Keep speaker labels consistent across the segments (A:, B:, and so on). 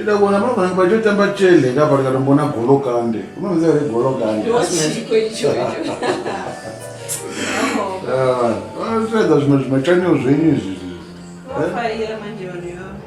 A: ida kuona
B: pano panenge pachitotamba chele kapa ndikatombona golokande unoziva here
A: golokande
B: zviedza zvimwe zvimwe chanio zvenyu izvi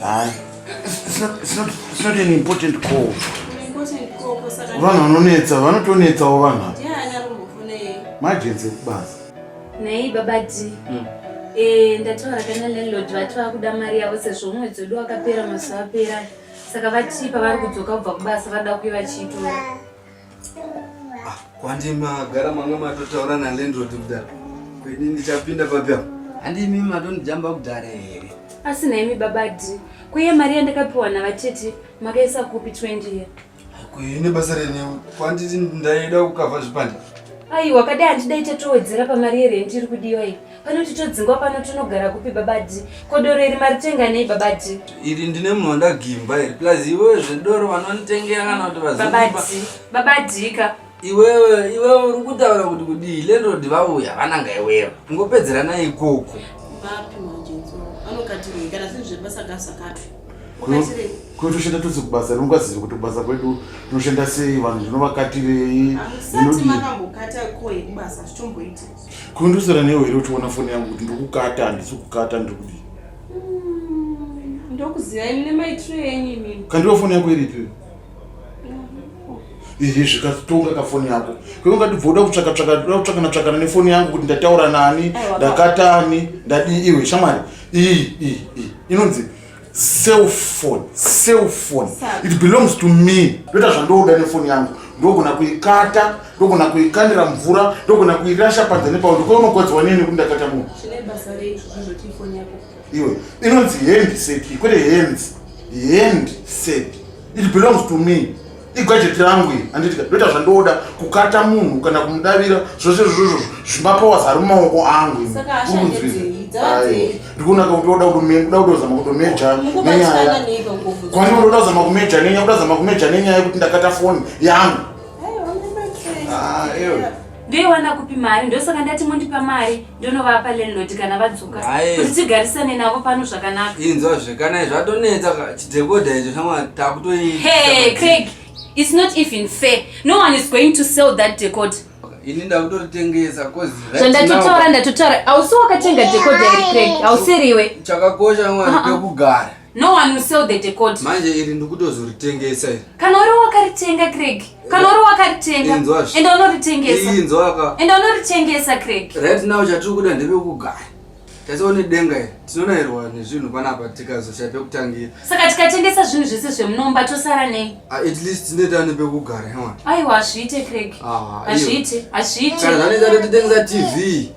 A: Hayi. It's not, it's
B: not, it's not an important call.
A: Vanhu vanonetsa,
B: vanotonetsawo vanhu apa.
A: Majenzi ekubasa.
B: Nei baba
C: D. Hmm. Eh, ndataura kana landlord vati vakuda mari yavo sezvo mwedzi wedu wakapera mazuva apera. Saka vati pavari kudzoka kubva kubasa vada kuye vachiitora. Ah,
D: kwandi magara manga matotaura nalandlord kudhara kweni ndichapinda papi apo handi imi matondijamba kudhara here asi naimi baba
C: d kweye mari yandakapiwa navatete makaisa kupi 20 year kuine basa
D: rene kwanditi ndaida kukava zvipande aiwa kadai
C: handidai tatowedzera pamari yerenti iri kudiwa iyi panoti todzingwa pano tonogara kupi babadi ko doro iri maritenga nei babadi iri ndine munhu
D: wandagimba iri plus iwewe zvedoro vanonitengera kana kuti vababadi babadika
C: iwewe
D: iwewe uri kutaura kuti kudii landlord vauya vananga iwewe ngopedzerana ikoko vapi manje
A: vanokatirei kana zvinhu zvebasa gavsakati
B: kuti toshanda tose kubasa rinokwaziva kuti kubasa kwedu tinoshanda sei vanhu zvinovakatirei
A: Kundusira newe
B: here uchiona foni yangu kuti ndokukata handisi kukata ndokudi. Mm,
A: ndokuziva ini nemaitiro enyu imimi. Kandiwa foni yako iripi?
B: Izvi zvikatonga ka foni yako. Kwe ungati bvoda kutsvaka tsvaka ndoda kutsvaka natsvakana nefoni yangu kuti ndataura nani, ndakatani, ndadii iwe shamwari. Iyi iyi iyi inonzi cell phone cell phone it belongs to me ndoita zvandoda nefoni yangu ndogona kuikata ndogona kuikandira mvura ndogona kuirasha panze nepao ndikaunokodziwa nini nekuti ndakata munhu
A: iwe inonzi
B: hand set kwete hands hand set it belongs to me igajeti rangu iri anditi ndoita zvandoda kukata munhu kana kumudavira zvose zvozvo zvimapowas ari mumaoko angu
A: ndikuonaka
B: kutoda kuda kutozama kutomeja nenyaya kwani ndoda kuzama kumeja nenyaya kuda kuzama kumeja nenyaya yekuti ndakata foni yangu
C: ndoiwana kupi mari ndosaka ndati mondipa mari ndonovapa landlord kana vadzoka kuti tigarisane navo pano zvakanaka inzwa zvekanai
D: zvatonetsa chidhekodha icho shamwa takutoi hey craig
C: it's not even fair no one is going to sell that decode ini
D: ndakutoritengesa coz zvandatotaura ndatotaura
C: ausi wakatenga decode iri craig ausiriwe chakakosha mwana
D: pekugara uh-uh. No one will sell
C: the decoder. Manje iri
D: ndikutozoritengesa iri. Kana uri wakaritenga
C: Craig. Kana uri wakaritenga. Enda unoritengesa. Inzwa ka. Enda
D: unoritengesa
C: Craig. Right now chatiri kuda
D: ndebe kugara. Tatione denga iri. Tinonairwa nezvinhu panapa tikazosha pekutangira. Saka tikatengesa
C: zvinhu zvese zvemunomba tosara nei? Ah, at least tine tane
D: pekugara hemwa. Aiwa hazviite Craig.
C: Ah, hazviite. Hazviite. Kana zvanetsa
D: totengesa TV.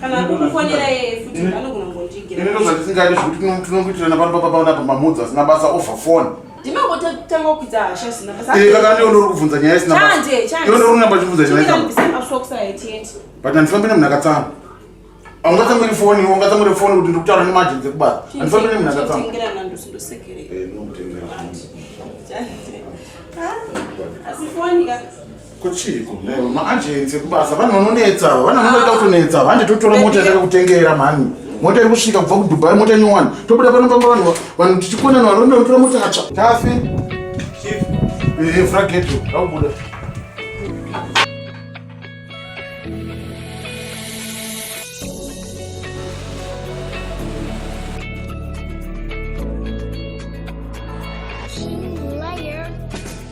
A: kana kukufonera iye futi anogona kungondigira ini ndozvandisingaiti
B: zvekuti tinongoitirana pano papaona apa mamudzi asina basa over phone ndimangotanga
A: kukwidza hasha zina eh, kaka ndiwo ndori kubvunza
B: nyaya isina iwo ndori kunamba chibvunza nyaya
A: but handifambi nemunhu
B: akatsama aungatsamwiri foni iwo ungatsamwiri foni kuti ndikutaura nemajenzi ekubasa handifambi nemunhu akatsama
A: eh, asi foni ka Kuchiko
B: leo maagency kubasa vanhu vanonetsa ava vanhu vanoda kutonetsa ava handi totora mota yataka kutengera mhani mota iri kusvika kubva kudubai mota nyowani tobuda pano pamba vanhu vanhu tichikonana vanhu vanoda kutora mota yatsva tafi frageto akubuda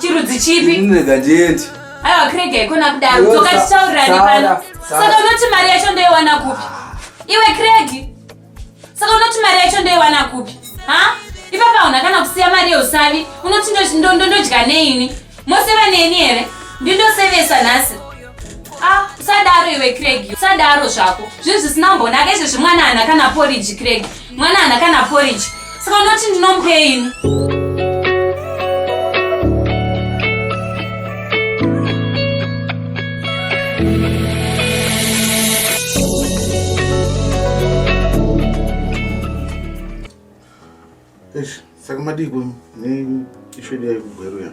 C: chirudzi chipi nega ndiende
D: aiwa krege haikona
C: kudaro dzoka titaurirani pano saka unoti mari yacho ndoiwana kupi iwe kregi saka unoti mari yacho ndoiwana kupi ha ipapa hauna kana kusiya mari yeusavi unoti ndodya neini moseva neni here ndindosevesa nhasi Ah, usadaro iwe Craig, usadaro zvako. Zvinhu zvisina mbonaka izvezvi mwana haana kana porridge Craig. Mwana haana kana porridge. Saka unoti ndinomupeini?
B: Eish, saka madii kwenyu? Nei ishu yedu yaikugweruya?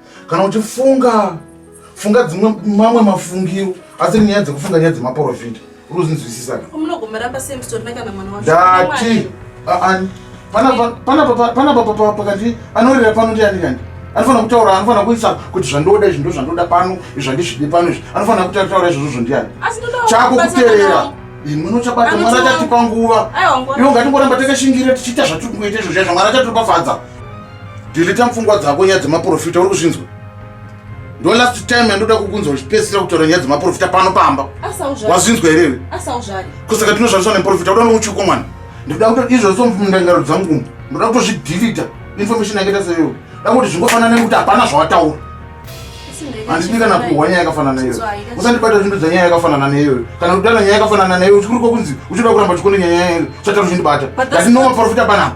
B: kana uchifunga funga dzimwe mamwe mafungiro asi nyaya dzekufunga nyaya dzemaporofita unozinzwisisa ndati panapa pakati anorira pano ndiani kani anofanira kutaura anofanira kuisa kuti zvandoda izvi ndo zvandoda pano izvandizvidi pano izvi anofanira kutaura izvozvo zvondiani chako kuteerera imwino chabata mwari achatipa nguva iwo ngatingoramba takashingirira tichiita zvatiri kuita izvo zvaizvo mwari achatopafadza Deleta mfungwa dzako nyaya dzemaprofita uri kuzvinzwa. Ndo last time yandoda kukunzwa uchipedzisira kutaura nyaya dzemaprofita pano pamba. Wazvinzwa here iwe? Asauzvare. Kusaka tinoshandiswa neprofita kuda nokuchuko mwana. Ndikuda kuti izvo so mundangaro dzangu. Ndoda kutozvideleta information yakaita seyo. Da kuti zvingofanana nekuti hapana zvawataura. Handidi kana kuhwa nyaya yakafanana neyo. Usandibata zvinhu dzanyaya yakafanana neyo. Kana kudana nyaya yakafanana neyo uchikuruko kunzi uchida kuramba chikone nyaya yayo. Chataru zvindibata. Ndati no maprofita panapa.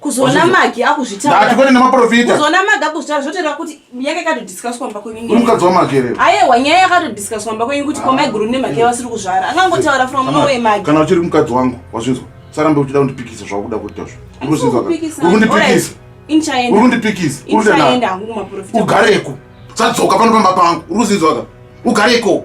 B: kuzoona magi
A: akuzvitauraatikwete nemaprofita
B: kuzoona magi akuzvitaura
A: zvotera kuti yake yakatodiscuswa mba kwenyu mukadzi wamakerero
B: ayewa nyaya yakatodiscuswa
A: mba kwenyu kuti komai guru nemhaka yavasiri kuzvara akangotaura from nowe magi kana uchiri mukadzi wangu
B: wazvinzwa sarambe uchida kundipikisa zvakuda kuita zvo urikundipikisa
A: urikundipikisa
B: ugareko sadzoka pano pamba pangu urikuzinzwaka ugareko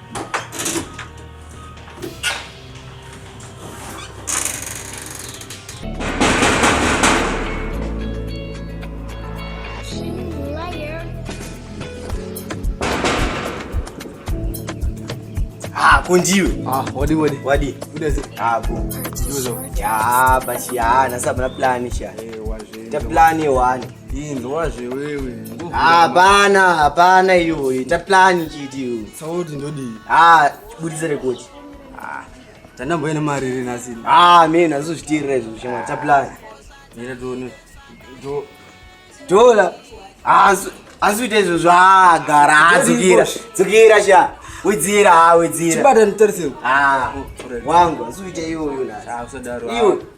E: kunjiwe ah wadi wadi wadi
D: udeze hapo
E: ah, tiduzo ya basi ya na sababu na plan sha eh waje ta plan
D: wani
E: inzwazve
D: wewe hapana
E: hapana iyoyo ita plani chiti iyoyo sauti ndodii
D: ha budise
E: rekodi
D: tandamboyene mari iri nhasi ha me nhasi
E: uzvitiirira izvo zvishama ita plani ita tione
D: dola
E: asi uite izvo zvagara hadzukira dzukira sha wedzera ha wedzera chibata
D: nditarisei
E: wangu asi uite iyoyo nhaaiwe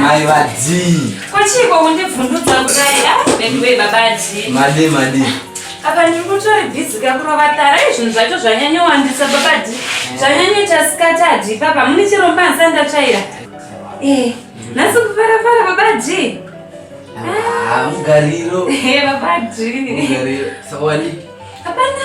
E: Mai vadii? Kwachiko
C: kundibvundudza kudai? Ah, veduwe baba adii? Madi madi.
D: Apa ndiri
C: kutori busy kakurova tara izvinhu zvacho zvanyanyowandisa baba adii. Eh. Zvanyanyoita sikati adii papa mune chiromba hansa ndatsvaira. Eh, nhasi kufara fara baba adii. Ah, mugariro.
D: Eh, baba adii.
C: Mugariro. Sawani.
D: Hapana.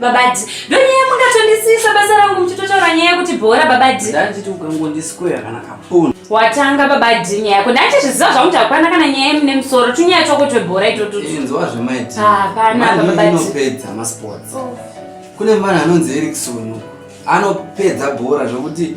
C: Babadi, ndonyaya mungatondisisa basa rangu muchitotaura nyaya yekuti bhora babadi. Ndanditi ukangondisikoya
D: kana kapona. Watanga babadi
C: nyaya yako. Ndanditi zviziva zvangu takwana kana nyaya yemune musoro. Tunyaya twako twebhora itoto. Inzwa zvemaiti. Ah,
D: pana babadi. Mani
C: inopedza masports.
D: Oh. Kune mwana anonzi Erickson. Anopedza bhora zvekuti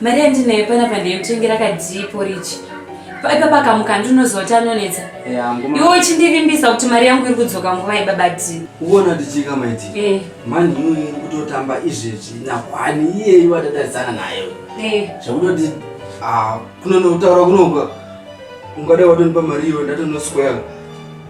C: Mari yandinayo panapa ndeyekutengera kadhii porichi. Ipapa akamuka ndinozoti anonetsa. Iwe uchindivimbisa kuti mari yangu iri kudzoka nguva yebaba dhii. Uona tichika
D: maiti. Eh. Mani uyu iri kutotamba izvezvi nakwani iyeyu atatarisana naye. Eh. Zvekutoti ah, kunonotaura kunoga ungada watonipa mari iwe ndatonoswera.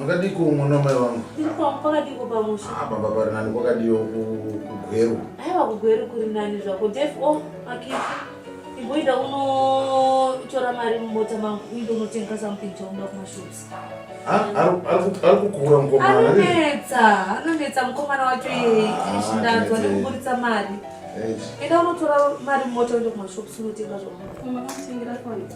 B: Makadiko mwana mai wangu. Ndipo pakadiko
A: pamusha. Ah baba pari nani
B: kwakadiyo kugweru. Aiwa kugweru
A: kuri nani zvako. Def oh akiti. Imboita uno tora mari mumota mangu uinde unotenga something chaunoda kumashops. Ah ari kukura
B: mukomana. Anonetsa,
A: anonetsa mukomana wacho iye. Ah, Shindanzwa nekuburitsa mari. Enda unotora mari mumota uinde kumashops unotenga zvaunoda. Unotenga zvaunoda.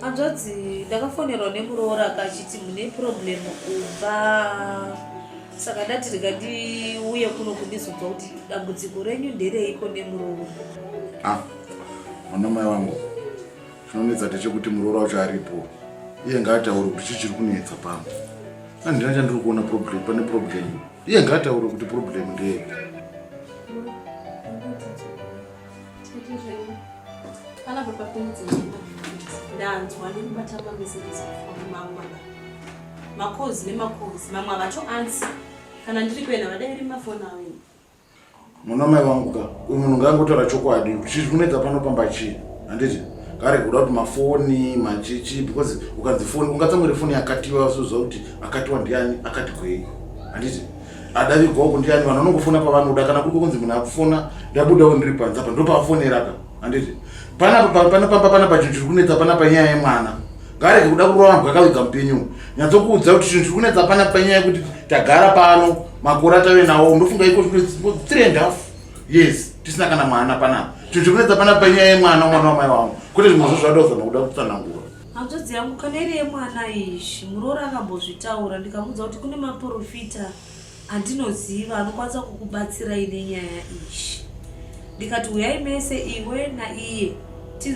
B: hanzvadzi
A: ndakafonerwa nemuroora akachiti mune problem kubva saka ndati rega ndiuye kuno kundizonzwa kuti dambudziko renyu ndereiko nemuroora ah,
B: mwana mai wangu chinonetsa ndechekuti muroora wacho aripo iye ngaataure kuti chii chiri kunetsa pano andina chandiri kuona problem pane problem iye ngaataure kuti problem ndeyepi
C: ndanzwa nekubata mameseji mamwe makozi nemakozi mamwe avacho ansi kana ndiri kuenda vadai ri mafoni avo
B: ini muna mai vangu ka uyu munhu ngaangotaura chokwadi chii kunetsa pano pamba chii handiti kare kuda kuti mafoni machichi because ukanzi foni ungatsamwere foni yakatiwa suziva kuti akatiwa ndiani akati gwei handiti adavigwa uku ndiani vanhu vanongofona pavanoda kana kuri kunzi munhu akufona ndabudawo ndiri panze apa ndopaafonera ka handiti panapapapanapanapa chinhu chiri kunetsa panapa nyaya yemwana ngarege kuda kurova vanhu vakaviga mupenyu nyatsokuudza kuti chinhu chiri kunetsa panapa nyaya yekuti tagara pano makore atave nawo ndofunga iko three and half yes tisina kana mwana panapa chinhu chiri kunetsa panapa nyaya yemwana mwana wamai wangu kwete zvimwe zvo zvadozama kuda kutsanangura Hanzvadzi yangu kana
A: iri yemwana izvi muroora akambozvitaura ndikamuudza kuti kune maporofita andinoziva anokwanisa kukubatsirai nenyaya izvi ndikati huyai mese iwe naiye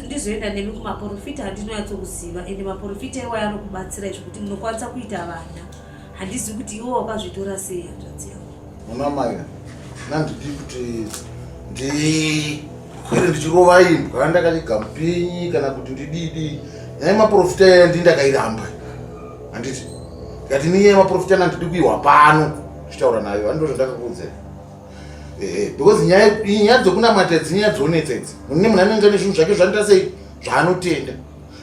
A: ndizoenda nemi kumaporofita andinonyatsokuziva ende maporofita iwayo anokubatsirai zvekuti munokwanisa kuita vana handizi kuti iwo wakazvitora sei hanzvadzi yako muna
B: maya nandidi kuti ndi kwere ndichirova imbwa ndakanyega mupinyi kana kuti ndididi nyaya maprofita yaya ndi ndakairamba handiti ndikati ni nyaya maprofita nandidi kuihwa pano tichitaura nayo andindo zvandakakuudzai ehe because nyaya nyaya dzokunamata dzinyaya dzonetsetse mune munhu anenge ane zvinhu zvake zvanditasei zvaanotenda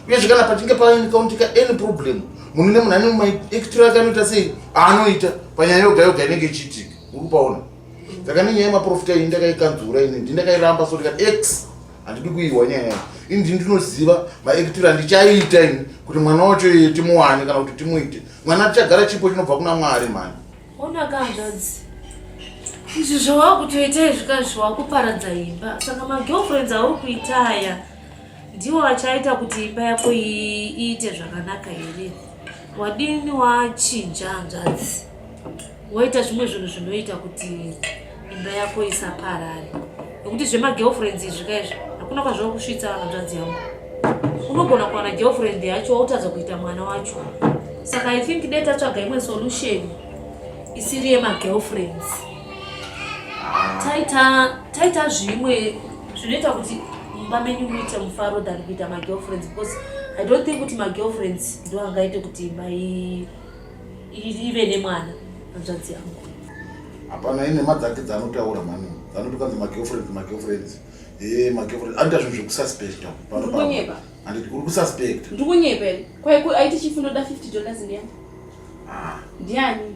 B: uyezve kana pachinge painikauntika any problem munhu nemunhu ane maekitiro ake anoita sei aanoita panyaya yoga yoga inenge ichiitika uri paona saka nenyaya yemaprofita iyi ndakaikanzura ini ndi ndakairamba so ndikati x handidi kuihwa nyaya yayo ini ndi ndinoziva maekitiro andichaiita ini kuti mwana wacho iye timuwane kana kuti timuite mwana tichagara chipo chinobva kuna mwari mhani
A: onakanzvadzi izvi zvawakutoita izvi kazvi wakuparadza imba saka magirlfriends auri kuita aya ndiwo achaita kuti imba yako iite zvakanaka here wadini wachinja hanzvadzi woita zvimwe zvinhu zvinoita kuti imba yako isaparare nokuti zvemagirlfriends izvi ka izvi hakuna kwazvava kusvitsa hanzvadzi yangu unogona kuwana girlfriend yacho wautadza kuita mwana wacho saka i think dai tatsvaga imwe solution isiri yemagirlfriends taita taita zvimwe zvinoita kuti mumba menyu muite mufaro than kuita magirlfriends because i don't think kuti magirlfriends ndo angaite kuti imba ive nemwana hanzvadzi yangu hapana
B: ine ma dzake dzanotaura mani dzanuti kanzi magirlfriends magirlfriends e eh, magirlfriends anoita zvinhu zvekususpecta panokunyeba anditi uri kususpect ndikunyepa
C: kwaiko aiti chifunoda 50 dollars ndiani ah. ndiani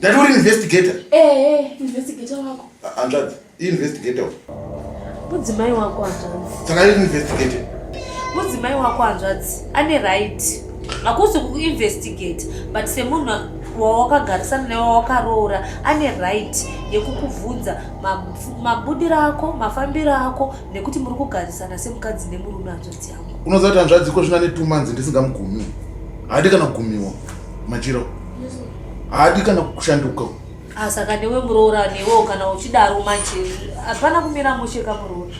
C: Ndati uri investigator?
B: Eh, investigator
C: wako. Hanzvadzi, i
B: investigator.
A: Mudzimai wako hanzvadzi. Saka iri investigator.
B: Mudzimai
A: wako hanzvadzi ane right. Hakusi kuinvestigate but semunhu wawakagarisana naye wawakaroora ane right yekukubvunza mabudiro ako, mafambiro ako nekuti muri kugarisana semukadzi nemurume hanzvadzi yangu. Unoziva kuti hanzvadzi iko zvino
B: ane two months ndisingamugumi. Hadi kana kugumiwa. Machiro. haadi kana kushanduka ah, saka newe
A: muroora newewo kana uchidaro manje hapana kumira mushe kamuroora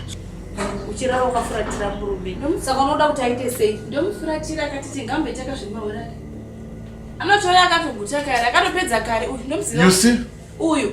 A: uchirara wakafuratira murume saka unoda kuti aite sei ndomufuratira akati
C: tingambe takazvimahorari anotouya akatoguta kare akatopedza kare uyu ndomuziva uyu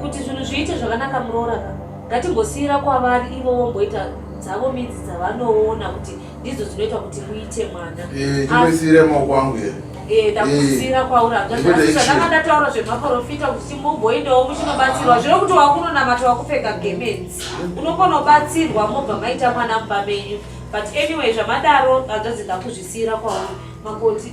A: kuti zvinhu zviite zvakanaka muroora ka ngatimbosiira kwavari ivo vomboita dzavo midzi dzavanoona kuti ndidzo dzinoita kuti muite mwana eh, ndisiire maoko
B: angu here eh, ndakusiira eh, kwauri
A: hazvazvandanga ndataura zvemaporofita kuti mumboendawo muchinobatsirwa zvino kuti wakunonamata wakupfeka gemenzi unokona kubatsirwa mobva maita mwana mumba menyu but anyway zvamadaro hazvadzi ndakuzvisiira kwauri makoti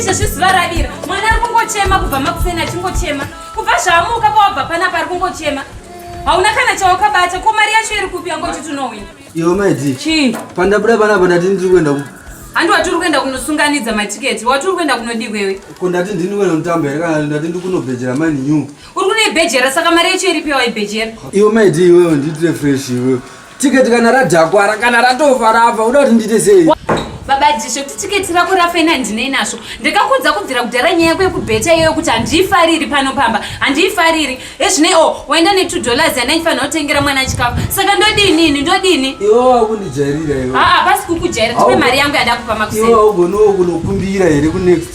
C: izvezvi zuva ravira mwana ari kungochema kubva makuseni achingochema kubva zvaamuka pawabva panapa ari kungochema hauna kana chawakabata ko mari yacho iri kupi yangoti tunowina iwe maidzi
D: chii pandabuda
C: panapa ndati
D: ndiri kuenda handi watiri kuenda
C: kunosunganidza matiketi watiri kuenda kunodii kwewe ko ndati ndini kuenda
D: kutamba here kana ndati ndikunobhejera mani new Uri kune ibhejera
C: saka mari yacho iripiwa ibhejera. Iwe maidi iwe
D: nditire fresh iwe. Ticket kana radakwara kana ratofa rafa unoda kuti ndiite sei? Baba Jisho kuti
C: ticket rako rafa ina ndinei nazvo. Ndakakudza kubvira kudhara nyaya yako yekubheta iyoyo kuti handiifariri pano pamba. Handiifariri. Ezvinei oh waenda ne 2 dollars yana ifanira kutengera mwana chikafu. Saka ndodini ini ndodini? Iwe wakundijairira
D: iwe. Ah ah pasi kukujairira
C: tipe mari yangu yadakupa makuseni. Iwe ugonokunokumbira
D: here ku next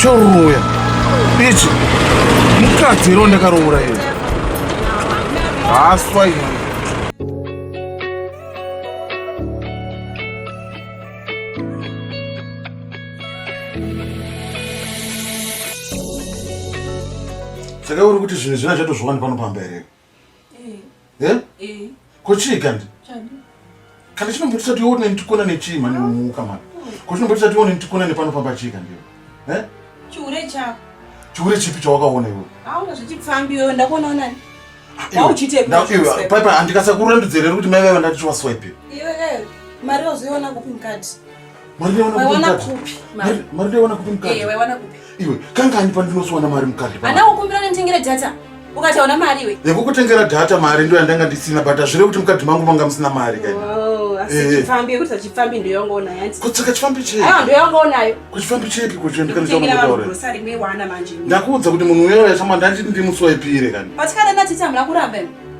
B: choroya ichi mukadzi iro ndakaroora iyo haswa iyo saka uri kuti zvinhu zvina zvatozviwani pano pamba here Eh? Eh? Ko chii kandi? Kana chinombotisa tione nditikona nechii mani umuka mani. Ko chinombotisa tione nditikona nepano pamba chii kandi? Eh? Chiure
F: chako. Chiure chipi
B: chawakaona iwe? Auna zvichipfambi
F: wewe ndakuona unani? Ndauchite. Ndauchite. Papa
B: andikasa kurandudzera kuti mai vaiva ndati chiwaswipe. Iwe eh
F: mari wazoiona kupi mukati?
B: iwe
F: kangani
B: pandinosuwana mari mukadhi ana ukumbira nenditengere
F: data ukataona mari iwe yekukutengera data mari
B: ndo yandanga ndisina but hazvireve kuti mukadhi mangu manga musina mari kaipfambi yekuti
F: achipfambi ndoyongonayo kutsaka chifambi chepi
B: ndoyongonayo
F: kuchifambi chepi
B: kuchendikandakuudza
F: kuti munhu
B: uyoyo chamandanditi ndimuswaipire kani patikada natiti hamuna
F: kuramba